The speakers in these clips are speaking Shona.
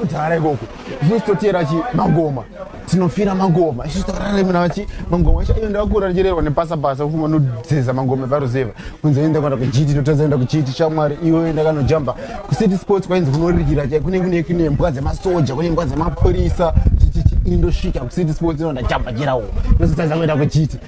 kudhara ikoko zvinositotera chi magoma tinofira magoma isitoraemna vachi magoma icho iyo ndakakura ndichirerwa nepasa pasa kufuma nodzeza magoma eparuzeva kunzi enda kwanda kuchiti ndotadza enda kuchiti shamwari iwe ndakanojamba kucity sports kwainzi kunorikira chai kune kune kune mbwa dzemasoja kune mbwa dzemapurisa indosvika kucity sports inondajamba chirawo ndositadza kuenda kuchiti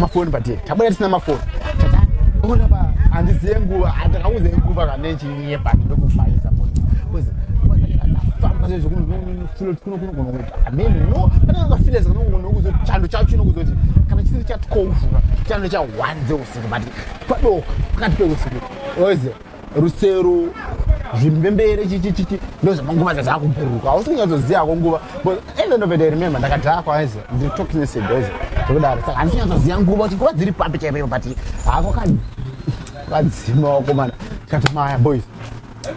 mafoni pate tabuda tisina mafoni ona pa handiziye nguva handakauze nguva kana ichinyepa ndokufayisa chando chacho chinokuzoti kana chisiri chatwouvuka chando cha one dzeusiku but padoko pakati peusiku oziva rusero zvinhu mbembere chichichichi ndozvamanguva dzazakubhuruka hausi kunyatsoziva ko nguva even of it i remember ndakadhakwa aizi ndiri talking this days zvekudaro saka handisi kunyatsoziva nguva kuti nguva dziri papi chaipoipo but hako ka vadzima wakomana tikati maya boys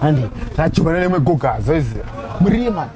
handi tachivana nemwe gogazo izi murima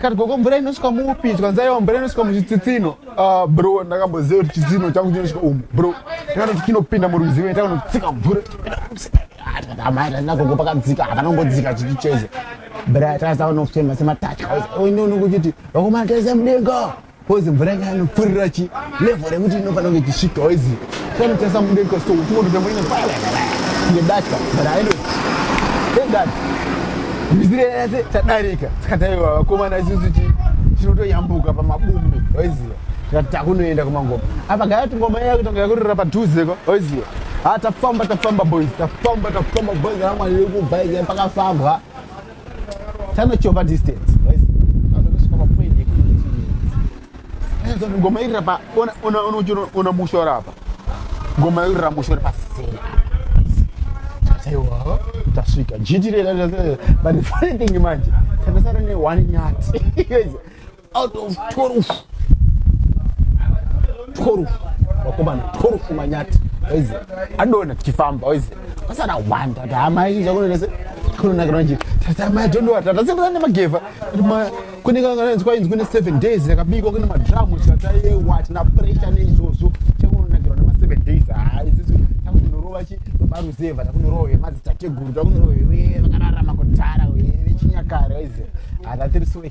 Kati gogo mvura inosvika muupi tikanzi aiwa mvura inosvika muchitsitsino ah, bro ndakamboziva kuti chitsino changu chinosvika umu bro takanoti chinopinda murwizi mene takanotsika mvura nagogo pakadzika hapana kungodzika chichicheze bra takaza vanofema sematatya oinonokuchiti vakomana taisa mudenga Kozi mvura yanga yanopfurira chi level rekuti inofanira kunge ichisvikawo izi panotasa mude kosto kuti moto tambo ine pala ngedaka but I know thank God mizire yese tadarika tikataiwa vakomana isusu chi tinotoyambuka pamabumbi waiziva tikati takunoenda kumangoma apa gaya kuti ngoma iya kutonga yakurira padhuze ko waiziva ha tafamba tafamba boys tafamba tafamba boys ramwari rekubva iye pakafambwa tanochova distance ngoma iri rapa ona musho rapa ngoma iri ramusho ri paseri aiwa tasvika jiti rerabut funny thing manje takasara ne one nyati out of 12 12 vakomana 12 manyati waize adona tichifamba waize pasana wanda kuti hama izvi zvakunonese kunonakira manje tata mai tondowa tata sekuta nemagevha kune kangananzi kwainzi kune seven days yakabikwa kune madramu tikata yewa tina pressure neizvozvo chakunonakirwa nemaseven days haa isisu takunorova chi varuzeva takunorowa vemadzitateguru takunorowa vevakararama kutara vechinyakare waize hatatirisoi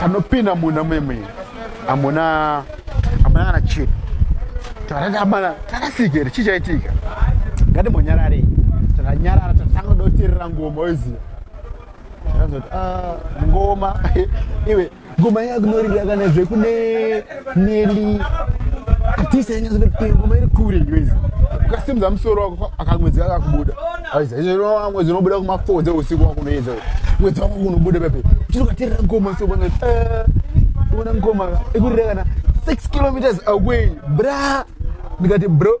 panopinda munhu amwe mwene amuna amuna kana chino tarati amana tarasikere chii chaitika ngatimbonyararei taranyarara tatanga doterera ngoma oiziva takazoti ah, ngoma iwe ngoma yakunorira kana zvekune Nelly atisa yenye zve pingo meri kure ngwezi ukasimza musoro wako akamwedzi wako akubuda aiza izvo wa mwedzi unobuda kuma 4 dze usiku wako unoyedza mwedzi wako unobuda pepe chiri katerera ngoma so bwana eh una ngoma ikurira kana 6 kilometers away bra ndikati bro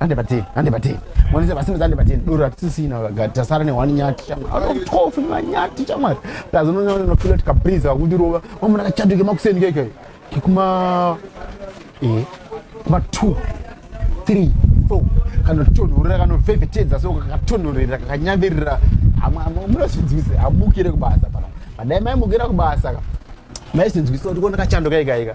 Ande batini, ande batini. Mwanisa basi mzande batini. Dora tisina gati tasara ne one nyati chamwa. Ano mtofu ma nyati chamwa. Tazo no no feel it kabriza wakundi rova. Mama na chatu ke makuseni keke. Kikuma eh kuma 2 3 4 kana tonhorera kana vhevhetedza so kakatonhorera kakanyambirira amwe amwe munosvinzwise amukire kubasa pana. Madai mai mukira kubasa ka. Mai sinzwise kuti kona kachando kaika ika.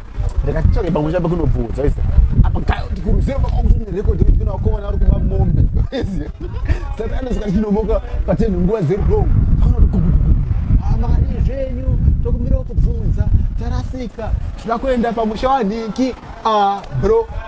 rega titsvage pamwe chambe kunobvudza ise apa kuruzero pakunerekodi yekupinda wakovana ari kuba mombe ise sati anosvika tichinomoka patenhu nguva zeri long amari zvenyu tokumbirawo kubvunza tarasika tinoda kuenda pamusha wanhinki a ah, bro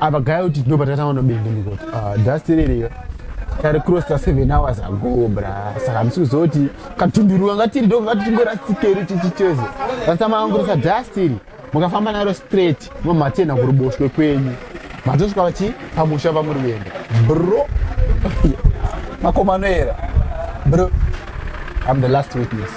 apa gaya kuti tinopa tatanga nobende ndikoti ah, dusty ririyo tari crosta seven hours ago bra saka hamisi kuziva kuti katunduru kanga tiri ndo kanga tichingorasitikeri chichicheze rasa maangurisa dusty iri mukafamba naro straight mamatena kuruboshwe kwenyu matosvika vachi pamusha pamuri kuenda bro makomanoera bro i'm the last witness